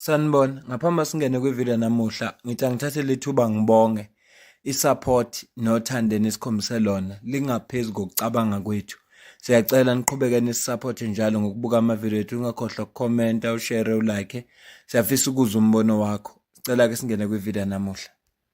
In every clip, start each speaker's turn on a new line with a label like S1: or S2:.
S1: Sanibona, ngaphambi singene kwivideo namuhla, ngithi angithathe lethuba ngibonge isupport nothando enikhombise lona lingaphezulu kokucabanga kwethu. Siyacela niqhubeke nisisupport njalo ngokubuka amavideo ethu, ungakhohlwa ukukhomenta, ushare, ulike. Siyafisa ukuzwa umbono wakho. Sicela ke singene kwivideo namuhla.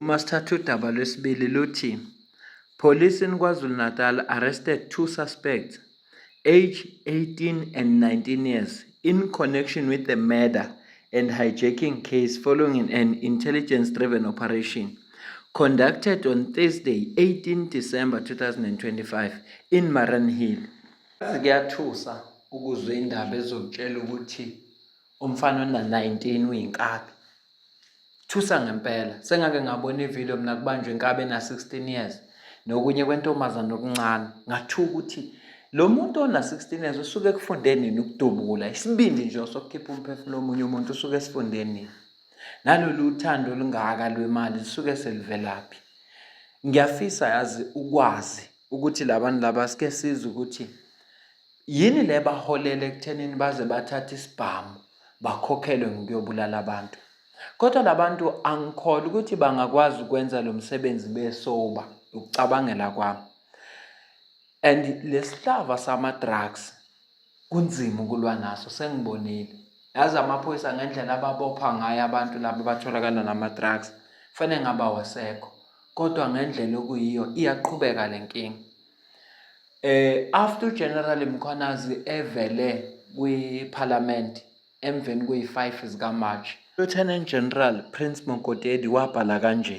S1: Uma sithatha udaba lwesibili luthi Police in KwaZulu-Natal arrested two suspects age 18 and 19 years in connection with the murder and hijacking case following an intelligence driven operation conducted on Thursday 18 December 2025 in Maranhill. Kuyathusa ukuzwa indaba ezokutshela ukuthi umfana ona-19 uyinkabi Thusa ngempela sengake ngabona ivideo mina kubanjwa inkabe na 16 years nokunye kwentombazana okuncane ngathuka ukuthi lo muntu ona 16 years usuke kufunde nini ukudubula isibindi nje sokukhipha umphefumulo omunye umuntu usuke esifunde nini nalolu uthando olungaka lwemali lisuke selivelaphi ngiyafisa yazi ukwazi ukuthi labantu laba sike sizwe ukuthi yini le baholele ekuthenini baze bathathe isibhamu bakhokhelwe ngokuyobulala abantu kodwa labantu angikholwa ukuthi bangakwazi ukwenza lo msebenzi besoba ukucabangela kwami and lesihlava sama drugs kunzima ukulwa naso sengibonile yazi amaphoyisa ngendlela ababopha ngayo abantu laba batholakala nama-drugs fanele ngaba wasekho kodwa ngendlela okuyiyo iyaqhubeka le nkinga eh after ugeneral mkhwanazi evele kwiphalamende emveni kuyi-5 zikamarch lieutenant general prince mokotedi wabhala kanje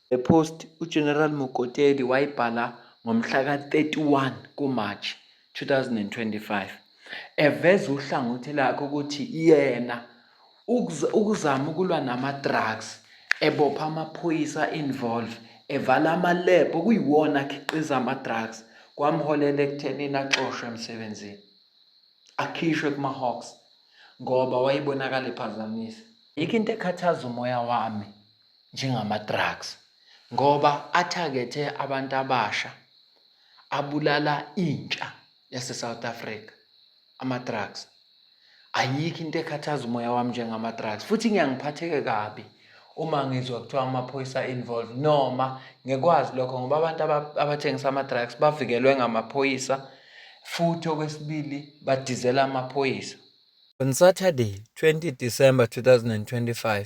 S1: Le post uGeneral Mokotedi wayibhala ngomhla ka-31 kuMarch 2025 eveza uhlangothi lakhe ukuthi yena ukuzama ukulwa nama-drugs ebopha amaphoyisa involve evala ama-lab okuyiwona akhiqiza ama-drugs kwamholela ekuthenini axoshwe emsebenzini akhishwe kuma-hawks ngoba wayebonakala ephazamisa yikho into ekhathaza umoya wami njengama-drugs ngoba athakethe abantu abasha, abulala intsha yase-South Africa ama-drugs. Ayikho into ekhathaza umoya wami njengama-drugs futhi ngiyangiphatheke kabi uma ngizwa kuthiwa amaphoyisa involved noma ngikwazi lokho ngoba abantu abathengisa ama-drugs bavikelwe ngamaphoyisa futhi okwesibili badizela amaphoyisa. On Saturday, 20 December 2025,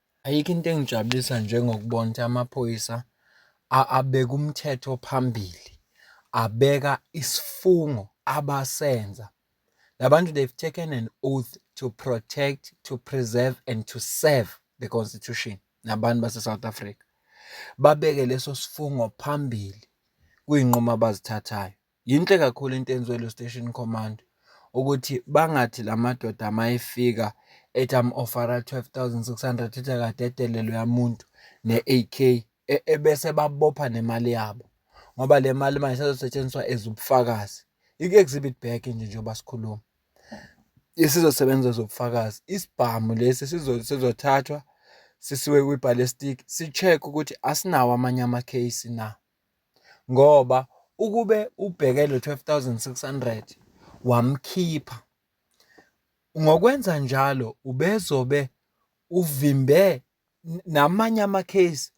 S1: Ayikho into engijabulisa njengokubona ukuthi amaphoyisa abeka umthetho phambili, abeka isifungo abasenza. La bantu they've taken an oath to protect, to preserve and to serve the Constitution nabantu base-South Africa. Babeke leso sifungo phambili kwiy'nqumo abazithathayo. Yinhle kakhulu into eyenziwe ilo station command ukuthi bangathi la madoda uma efika ethi amu-ofara twelve thousand six hundred ethi akadedele loya muntu ne-A_K e, ebese babopha nemali yabo ngoba le mali manje sezosetshenziswa as ubufakazi. Ike-exhibit bag nje njengoba sikhuluma isizosebenza as ubufakazi. Isibhamu lesi sizothathwa sisiwe kwibhalistiki si-check-we ukuthi asinawo amanye amakheyisi na. ngoba ukube ubheke lo twelve thousand six hundred wamkhipha ngokwenza njalo ubezobe uvimbe namanye amakheyisi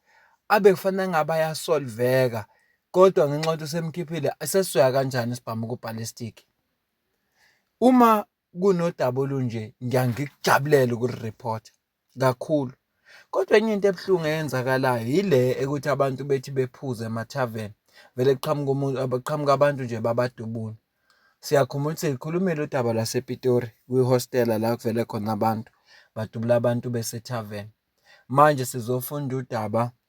S1: abe kufanele ngabe ayasolveka kodwa ngenxa yokuthi usemkhiphile sesizoya kanjani isibhamu ku-ballistic. Uma kunodaba olunje ngiya ngikujabulela ukuriphotha. kakhulu. Kodwa enye into ebuhlungu eyenzakalayo yile ekuthi abantu bethi bephuze emathaveni vele kuqhamuka umuntu abaqhamuka abantu nje babadubula. Siyakhumbula ukuthi sikhulumile udaba lwasePitori kwihostela la kuvele khona abantu badubula abantu besethaveni. Manje sizofunda udaba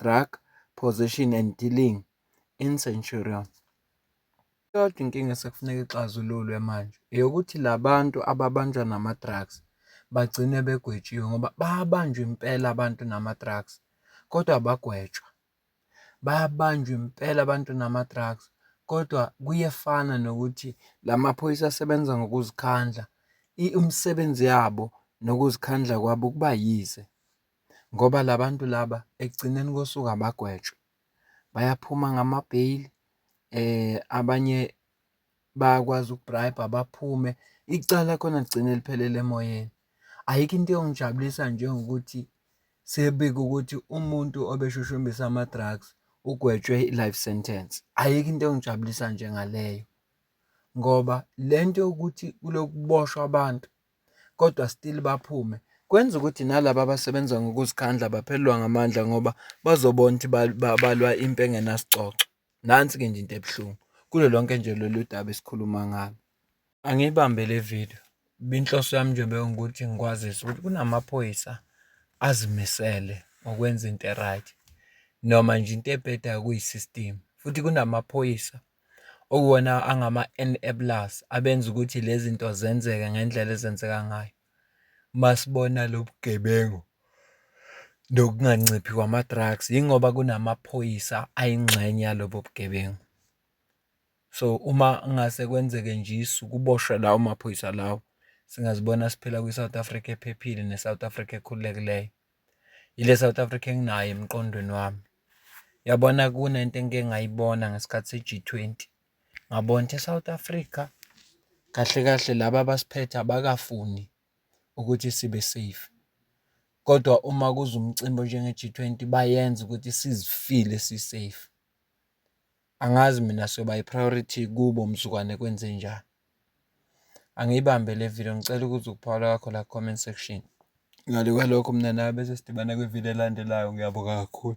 S1: Drug Possession and Dealing in Centurion. Kodwa inkinga esekufuneka ixazululwe manje eyokuthi la bantu ababanjwa nama-drugs bagcine begwetshiwe ngoba bayabanjwa impela abantu nama-drugs kodwa bagwetshwa. Bayabanjwa impela abantu nama-drugs kodwa kuyefana nokuthi la maphoyisa asebenza ngokuzikhandla umsebenzi yabo nokuzikhandla kwabo kuba yize. ngoba la bantu laba ekugcineni kosuku abagwetshwe. Bayaphuma ngamabheyili abanye bayakwazi uku-bribe-a baphume. Icala khona ligcine liphelele emoyeni. Ayikho into eyongijabulisa njengokuthi sekubikwe ukuthi umuntu obeshushumbisa ama-drugs ugwetshwe i-life sentence. Ayikho into engijabulisa njengaleyo ngoba le nto yokuthi kulokhu kuboshwa abantu kodwa still baphume. Kwenza ukuthi nalaba abasebenza ngokuzikhandla baphelelwa ngamandla ngoba bazobona ukuthi balwa impi engenasicoco. Nansi-ke nje into ebuhlungu kulo lonke nje lolu daba esikhuluma ngalo. Angiyibambe le video, inhloso yami nje bewungukuthi ngikwazise ukuthi kunamaphoyisa azimisele ngokwenza into e-right noma nje into ebhedayo kuyi-system futhi kunamaphoyisa. okuwona angama-enablers abenza ukuthi lezi zinto zenzeke ngendlela ezenzeka ngayo. Uma sibona lo bugebengu nokunganciphi kwama-drugs yingoba kunamaphoyisa ayingxenye yalobo bugebengu. So, uma kungase kwenzeke nje isu kuboshwe lawo maphoyisa lawo singazibona siphila kwi-South Africa ephephile ne-South Africa ekhululekileyo. Ile South Africa enginayo emqondweni wami. Yabona kunento engike ngayibona ngesikhathi se-G20. Ngabona ukuthi e-South Africa kahle kahle laba abasiphethe abakafuni ukuthi sibe safe. Kodwa uma kuza umcimbi onjenge-G20 bayenza ukuthi sizifile si-safe. Angazi mina soba i-priority kubo mzukwane kwenzenjani. Angiyibambe le video ngicela ukuzwa ukuphawula kwakho la ku-comment section. Ngale kwalokho mina nawe bese sidibana kwi-video elandelayo. Ngiyabonga kakhulu.